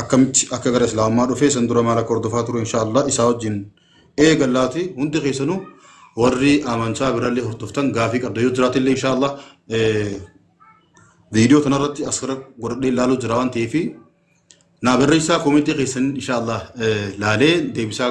akkamitti akka gara islaamummaa dhufee san dura maal akka hordofaa ture insha Allah isaa wajjin eegallaati hundi keessanuu warri amantaa birallee hordoftan gaafii qabda yoo jiraate illee insha Allah viidiyoo tanarratti as gara godhadhee ilaaluu jira waan ta'eef naa barreessaa koomentii keessan insha Allah laalee deebisaa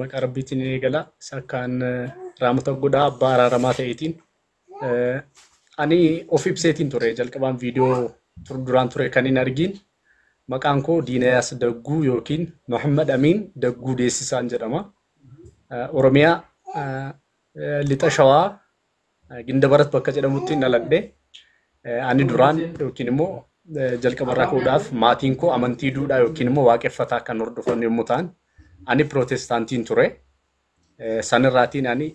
maqaa rabbiitiin ni eegala isa akkaan raamata godhaa abbaa araaramaa ta'eetiin ani of ibseetiin ture jalqabaan viidiyoo duraan ture kan hin argiin maqaan koo Diinayaas Dagguu yookiin Muhammad Amiin Dagguu Deessisaan jedhama. Oromiyaa lixa shawaa Gindabarat bakka jedhamutti hin dhaladhe. Ani duraan yookiin immoo jalqabarraa ka'uudhaaf maatiin koo amantii duudhaa yookiin immoo waaqeffataa kan hordofan yommuu ta'an ani pirootestaantiin ture. Sanirraatiin ani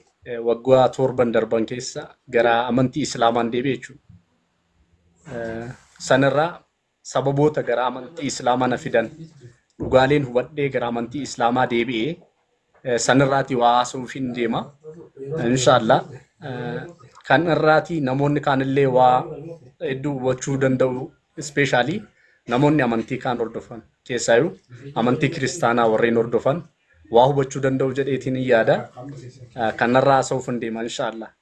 waggaa torban darban keessa gara amantii islaamaan deebi'e jechuudha. Sanirraa Sababoota gara amantii Islaamaa na fidan dhugaaleen hubadhee gara amantii Islaamaa deebi'e san irraatii waa haasa'uufiin deema. Inshaallah kan irraatii namoonni kaanillee waa hedduu hubachuu danda'u ispeeshaalii namoonni amantii kaan hordofan keessaayyuu amantii kiristaanaa warreen hordofan waa hubachuu danda'u jedheetiin yaada. Kanarraa haasa'uuf hin deema inshaallah.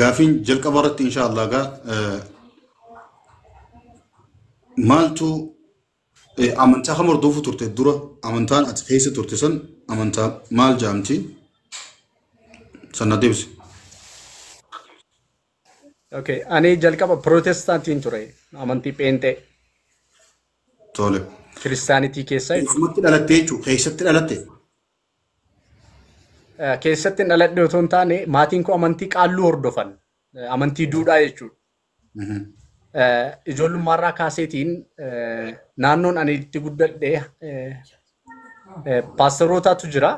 Gaafiin jalqaba irratti insha Allah gaa maaltu amantaa kam hordofuu turte dura amantaan ati keessa turte san amantaa maal jaamti sana deebisi. Okay, ani jalqaba pirootestaantiin ture amantii pheenxee Tole. kiristaanitii keessaa jechuudha. Keessumatti dhalattee jechuudha keessatti dhalatte. keessatti hin dhaladhe otoo hin taane maatiin koo amantii qaalluu hordofan amantii duudhaa jechuudha. Ijoollummaarraa kaaseetiin naannoon ani itti guddadhe paasterootaatu jira.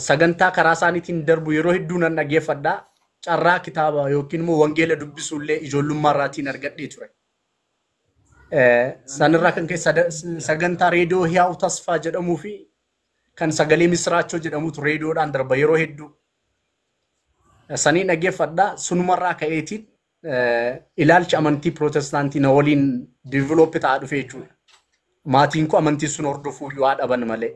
Sagantaa karaa isaaniitiin darbu yeroo hedduu nan dhaggeeffadha. Carraa kitaaba yookiin immoo wangeela dubbisuullee ijoollummaarraatiin argadhee ture. Sanirraa kan ka'e sada- sagantaa reediyoo Hiyaawu Tasfaa jedhamuu fi kan sagalee misiraachoo jedhamutu reediyoodhaan darba yeroo hedduu. Sanii dhaggeeffadha. Sunumarraa ka'eetiin eh, ilaalchi amantii pirootestaantii na waliin diiviloopi ta'aa dhufe jechuudha. Maatiin koo amantii sun hordofuu yoo dhaban malee.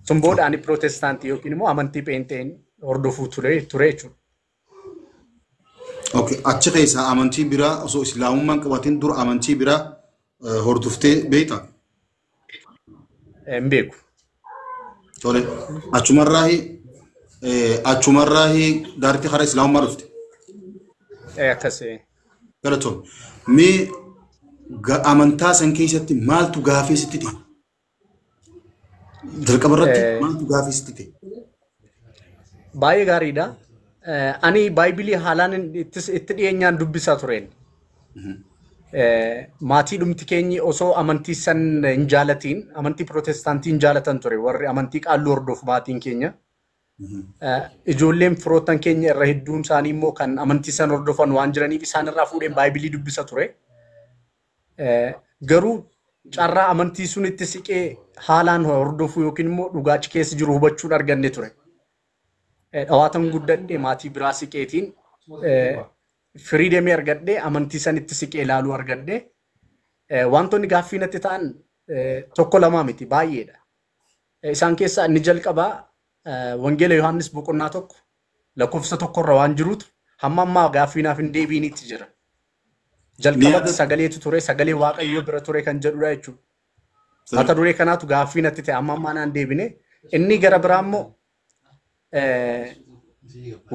Sun booda ani pirootestaantii yookiin immoo amantii pheenxeen hordofuu ture ture jechuudha. Okay. Achi keessaa amantii biraa osoo islaamummaan qabatin dura amantii biraa eh, hordoftee beekta. Hin beeku. Tole. Achumarraahi eh, achumarraahi daartii karaa islaamummaa dhufte. Eh, Akkas eh, Galatoom. Mee ga- amantaa san keessatti maaltu gaafii sitti dhihe? Jalqaba irratti Eh. maaltu gaafii sitti ta'e? Baay'ee gaariidha. Eh, Ani Baaybilii haalaan hin- ittis- itti dhiyeenyaan dubbisaa tureen. Eh, Maatii dhumti keenyi osoo amantii san hin jaalatiin, amantii pirootestaantii hin jaalatan ture warri amantii qaalluu hordofu maatiin keenya. Eh, Ijoolleen firoottan keenya irra hedduun isaanii immoo kan amantii san hordofan waan jiraniif isaan irraa fuudheen Baaybilii dubbisa ture. Garuu carraa amantii sunitti siqee haalaan hordofuu yookiin immoo dhugaa achi keessa jiru hubachuun arganne ture. Dhawaatan guddadhe maatii biraa siqeetiin firii deemee argadhe amantii sanitti siqee ilaaluu argadhe. Wantoonni gaaffii natti ta'an tokko lamaa miti baay'eedha. Isaan keessaa inni jalqabaa Wangeela Yohaannis boqonnaa tokko lakkoofsa tokkorra waan jirutu hamma ammaa gaaffii naaf hin deebiinitti jira. Jalqabatti Yaada- sagaleetu ture, sagalee Waaqayyoo bira ture kan jedhudha jechuudha. Mata duree kanaatu gaaffii natti ta'e amma ammaa naan deebine. Inni gara biraa immoo eh,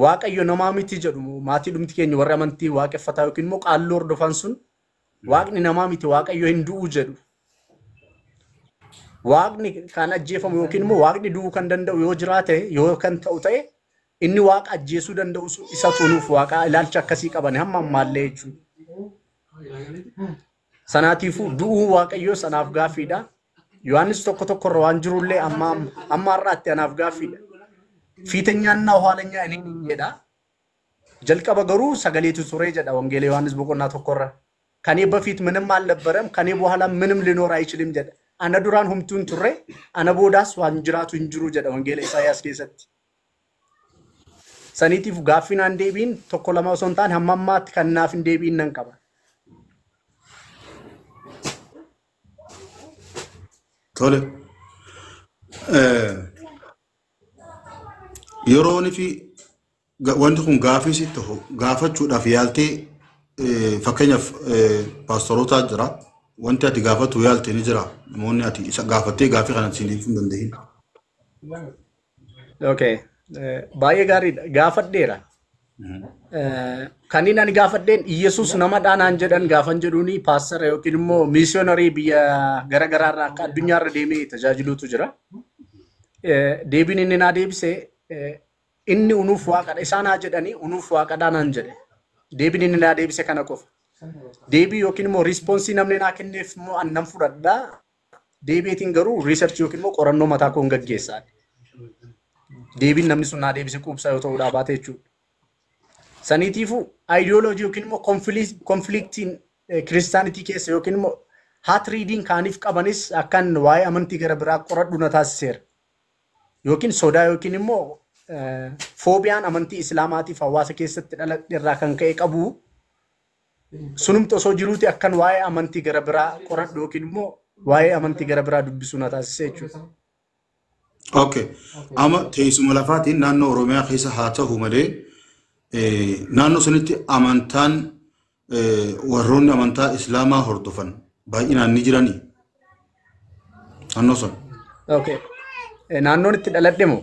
Waaqayyo namaa miti jedhu maatii dhumti keenya warri amantii waaqeffataa yookiin immoo qaalluu hordofan sun Waaqni namaa miti Waaqayyo hin du'u jedhu. Waaqni kan ajjeefamu yookiin immoo Waaqni du'uu kan danda'u yoo jiraate yoo kan ta'u ta'e Inni waaqa ajjeesuu danda'u sun isa utuu nuuf waaqaa ilaalcha akkasii qabane hamma ammaallee jechuudha. Sanaatiifuu du'uu waaqayyoo sanaaf gaaffiidha. Yohaannis tokko tokko irra waan jirullee amma amma har'aatti anaaf gaaffiidha. Fiitenyaannaa haalanyaa inni hin jedha. Jalqaba garuu sagaleetu ture jedha Wangeela Yohaannis boqonnaa tokko irra. Kan eebba fiit minim alnabbaram kan eebba haala minim linoor ayichilim jedha. Ana duraan humtuu hin turre ana boodaas waan jiraatu hin jiru jedha Wangeela Isaayyaas keessatti. saniitiif gaaffii naan deebiin tokko lama osoo hin taane hamma ammaatti kan naaf hin deebiin nan qaba. Tole. Eh, Yeroon fi ga- wanti kun gaafii si ta'u gaafachuudhaaf yaaltee eh, fakkeenyaaf eh, paastorootaa jira. Wanti ati gaafatu yaalte ni jira. Namoonni ati isa gaafattee gaafii kana siiniif hin danda'in. Okay. Eh, Baay'ee gaariidha. Gaafadheera. Eh, Kanneen ani gaafadheen Iyyasuus namadhaa naan jedhan gaafan jedhuuni paastara yookiin immoo miisiyonarii biyya gara garaarraa akka addunyaarra deemee tajaajiluutu jira. Eh, Deebiin inni naa deebise eh, inni unuuf waaqadha. Isaan haa jedhanii unuuf waaqadhaa naan jedhe. Deebiin inni naa deebise kana qofa. Deebii yookiin immoo riispoonsii namni naa kenneef immoo an nan fudhadha. Deebi'eetiin garuu research yookiin immoo qorannoo mataa koon gaggeessaa. Deebiin namni sun naa deebise quubsaa yoo ta'uu dhaa baate jechuudha. Saniitiifuu ideology yookiin immoo konfiliiktiin kiristaanitii keessa yookiin immoo hat reading kaaniif qabanis akkan waa'ee amantii gara biraa qoradhu na taasiseera. Yookiin sodaa yookiin immoo foobiyaan amantii islaamaatiif hawaasa keessatti dhaladhe irraa kan ka'e qabu Sunumti osoo jiruuti akkan waa'ee amantii gara biraa qoradhu yookiin immoo waa'ee amantii gara biraa dubbisuu na taasise jechuudha. Okay. Amma teessuma lafaatiin naannoo Oromiyaa keessa haa ta'u malee eh, naannoo sanitti amantaan eh, warroonni amantaa Islaamaa hordofan baay'inaan ni jiranii naannoo sana. Okay. Eh, Naannoon itti dhaladhe moo?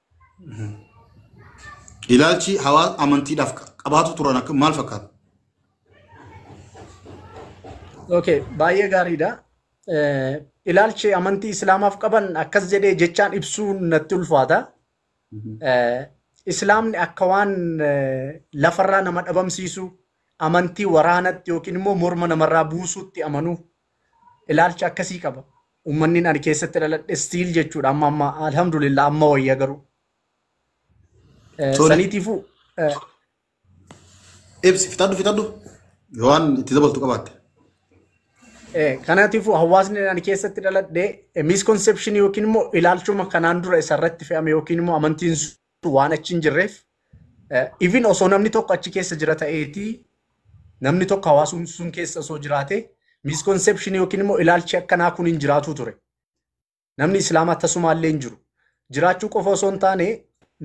Ilaalchi hawaasa amantiidhaaf qabaatu turan akka maal fakkaata? Okay, baay'ee gaariidha. Eh, Ilaalchi amantii Islaamaaf qaban akkas jedhee jechaan ibsuun natti ulfaata. Eh, Islaamni akka waan eh, lafarraa nama dhabamsiisu amantii waraanatti yookiin immoo morma namarraa buusuutti amanuu ilaalcha akkasii qaba. Uummanni ani keessatti dhaladhe stiil jechuudha amma amma alhamdulillah amma wayya garuu. Eh, Sorry. Saniitiifuu eh, Ibsi fixadhu fixadhu yoo waan itti dabaltu qabaatte. Eh, kanaatiifuu hawaasni ani keessatti dhaladhe misconception yookiin immoo ilaalchuma kanaan dura isarratti fe'ame yookiin immoo amantiin waan achi hin jirreef even osoo namni tokko achi keessa jira ta'eeti namni tokko hawaasumni sun keessa osoo jiraate misconception yookiin immoo ilaalchi akkanaa kun hin jiraatu ture. Namni islaamaa tasumaallee hin jiru. Jiraachuu qofa osoo hin taane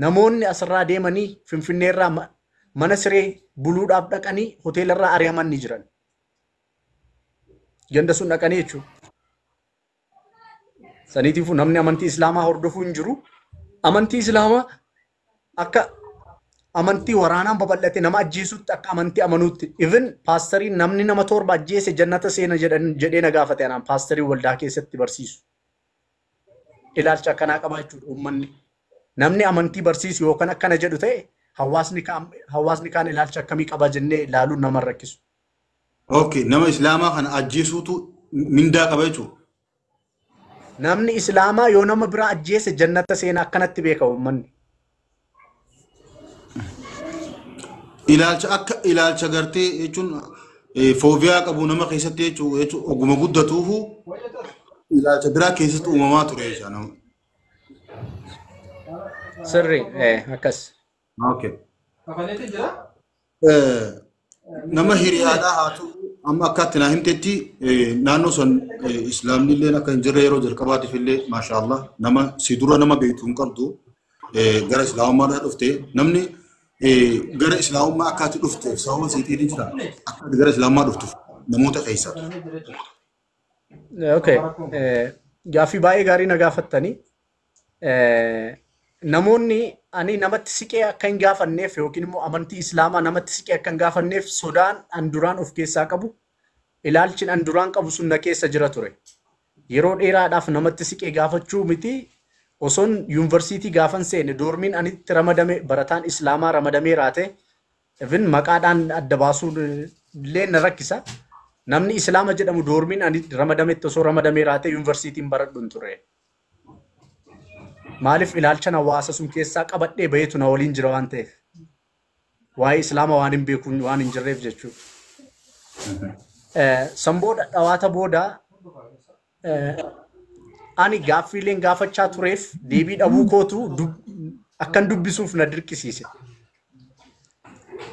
namoonni asirraa deemanii finfinneerraa ma- mana siree buluudhaaf dhaqanii hoteelarraa ari'aman ni jiran. Ganda sun dhaqanii jechuudha. Saniitiifuu namni amantii Islaamaa hordofuu hin jiru. Amantii Islaamaa akka amantii waraanaan babal'ate nama ajjeesutti akka amantii amanuutti even paastarii namni nama torba ajjeese jannata seena jedhan jedhee na gaafate anaan paastarii waldaa keessatti barsiisu. Ilaalcha akkanaa qaba jechuudha uummanni. Namni amantii barsiisu yookaan akkana jedhu ta'e hawaasni kaan hawaasni kaan ilaalcha akkamii qaba jennee ilaaluun nama hin rakkisu. Okay, nama islaamaa kana ajjeesuutu mindaa qaba jechuudha. Namni islaamaa yoo nama biraa ajjeese jannata seena akkanatti beeka uummanni. Ilaalcha akka ilaalcha gartee jechuun eh, foobiyaa qabu nama keessatti jechuu jechuun oguma guddatuufu ilaalcha biraa keessatti uumamaa ture jechuudha. Sirri eh, akkas. Okay. Kafaleeti jira. Eh, nama hiriyaadhaa haa ta'u amma akka itti naa himtetti eh, naannoo san eh, islaamni illee akka hin jirre yeroo jalqabaatiif illee maashaallah nama si dura nama beektu hin qabdu eh, gara islaamummaadhaa dhufte namni eh, gara islaamummaa akka ati dhufteef sababa seexiin jira akka ati gara islaamummaa dhuftuuf namoota keessa Kafaleeti jira. Okay. eh, Gaaffii baay'ee gaarii na gaafattanii. Eh, Namoonni ani namatti siqee akka hin gaafanneef yookiin immoo amantii Islaamaa namatti siqee akka hin gaafanneef sodaan an duraan of keessaa qabu ilaalchin an duraan qabu sun na keessa jira ture. Yeroo dheeraadhaaf namatti siqee gaafachuu miti osoon yuunivarsiitii gaafan seene doormiin ani itti ramadame barataan Islaamaa ramadamee raate Even maqaadhaan adda baasuun illee na rakkisa. Namni Islaama jedhamu doormiin ani ramadametti osoo ramadamee raatee yuunivarsiitiin baradhu hin ture. Maaliif ilaalchan hawaasa sun keessaa qabadhee baheetu na waliin jira waan ta'eef. Waa'ee Islaama waan hin beekuun waan hin jirreef jechuudha. San booda dhawaata booda Ani gaaffiileen gaafachaa tureef deebii dhabuu kootu akkan dubbisuuf na dirqisiise.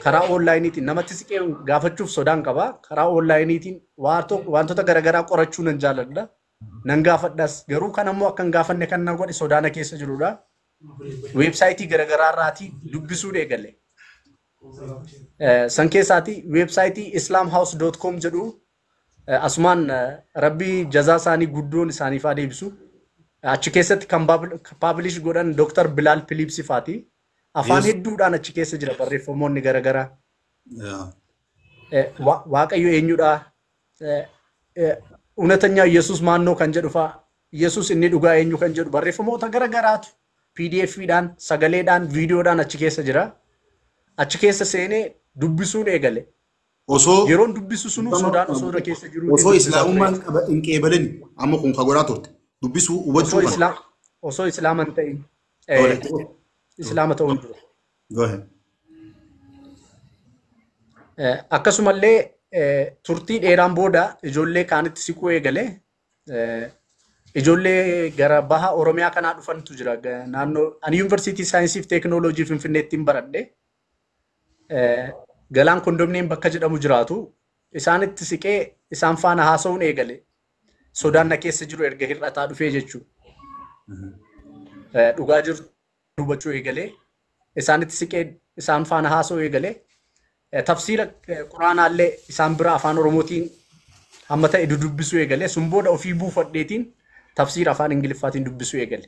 Karaa oonlaayiniitiin namatti siqee gaafachuuf sodaan qaba. Karaa oonlaayiniitiin wantoota garaagaraa qorachuu nan jaaladha. Nan gaafadhas. Garuu kan ammoo akkan gaafanne kan na godhe sodaa na keessa jirudha. Weebsaayitii garaagaraa irraatii dubbisuun eegale. San keessaati weebsaayitii islaamhouse.com jedhu Asumaan rabbii jazaa isaanii guddoon isaaniif haa deebisu. Achi keessatti kan paablish godhan Dr. Bilaal Philiipsi faati. Afaan Yes. hedduudhaan achi keessa jira barreeffamoonni garaagaraa. yaa Eh, wa- Waaqayyo eenyudha? Eh, eh, Ewnatanya Yesuus maannoo kan jedhu fa'a. Yesuus inni dhugaa eenyu kan jedhu barreeffamoota garaagaraatu PDF'dhaan, sagaleedhaan, viidiyoodhaan achi keessa jira. Achi keessa seenee dubbisuun eegale. Osoo Yeroon dubbisu sunuu sodaan osoo irra keessa jiruu illee osoo dubbisaa ture islaamummaan jechuudha. qaba hin qeebalin amma kun ka godhaa turte dubbisuu Osoo hubachuu kana. islaam osoo islaama hin ta'in eh, Tola, itti fufi. islaama ta'uun dura. Go ahead. Eh, Akkasumallee eh, turtii dheeraan booda ijoollee kaanitti siquu eegale. Eh, Ijoollee gara baha Oromiyaa kanaa dhufantu jira. Ga- Naannoo ani yuunivarsiitii saayinsii fi teekinooloojii Finfinneettiin baradhe. Galaan kondomniyeem bakka jedhamu jiraatu isaanitti siqee isaan faana haasa'uun eegale. Sodaan na keessa jiru erga hir'ataa dhufee jechuudha. Dhugaa jiru hubachuu eegalee isaanitti siqee isaan faana haasa'uu eegalee tafsiira quraanaallee isaan bira afaan oromootiin hamma ta'e dudubbisuu eegalee sun booda ofii buufadheetiin tafsiira afaan ingiliffaatiin dubbisuu eegale.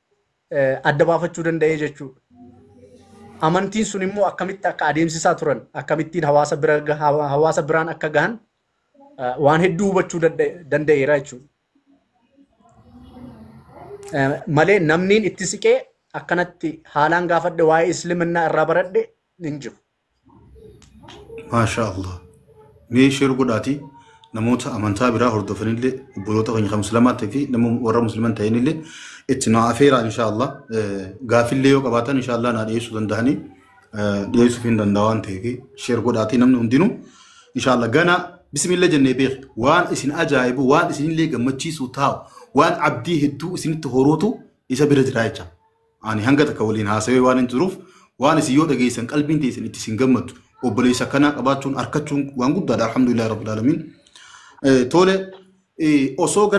adda baafachuu danda'ee jechuudha. Amantiin sun immoo akkamitti akka adeemsisaa turan, akkamittiin hawaasa bira hawaasa biraan akka gahan waan hedduu hubachuu danda'eera jechuudha. Malee namniin itti siqee akkanatti haalaan gaafadhe waa'ee Isliminnaa irraa baradhe hin jiru. maashaa allah mee sheer godhaatii namoota amantaa biraa hordofanillee obboloota keenya kan muslimaatti fi nama warra musliman ta'inillee itti naa afeeraa inshaa allah gaafillee yoo qabaatan inshaa allah naa dhiyeessuu danda'anii dhiyeessuuf hin danda'a waan ta'eef sheer godhaatii namni hundinuu inshaa allah ganaa bismillah jennee beek waan isin ajaa'ibu waan isinillee gammachiisu taa'u waan abdii hedduu isinitti horuutu isa bira jira jecha Ani hanga takka waliin haasawee waan hin jiruuf waan isin yoo dhageessan qalbiin teessan itti isin gammaddu obboleessa akkanaa qabaachuun arkachuun waan guddaadha alhamdulillah rabbil alamin. Tole osoo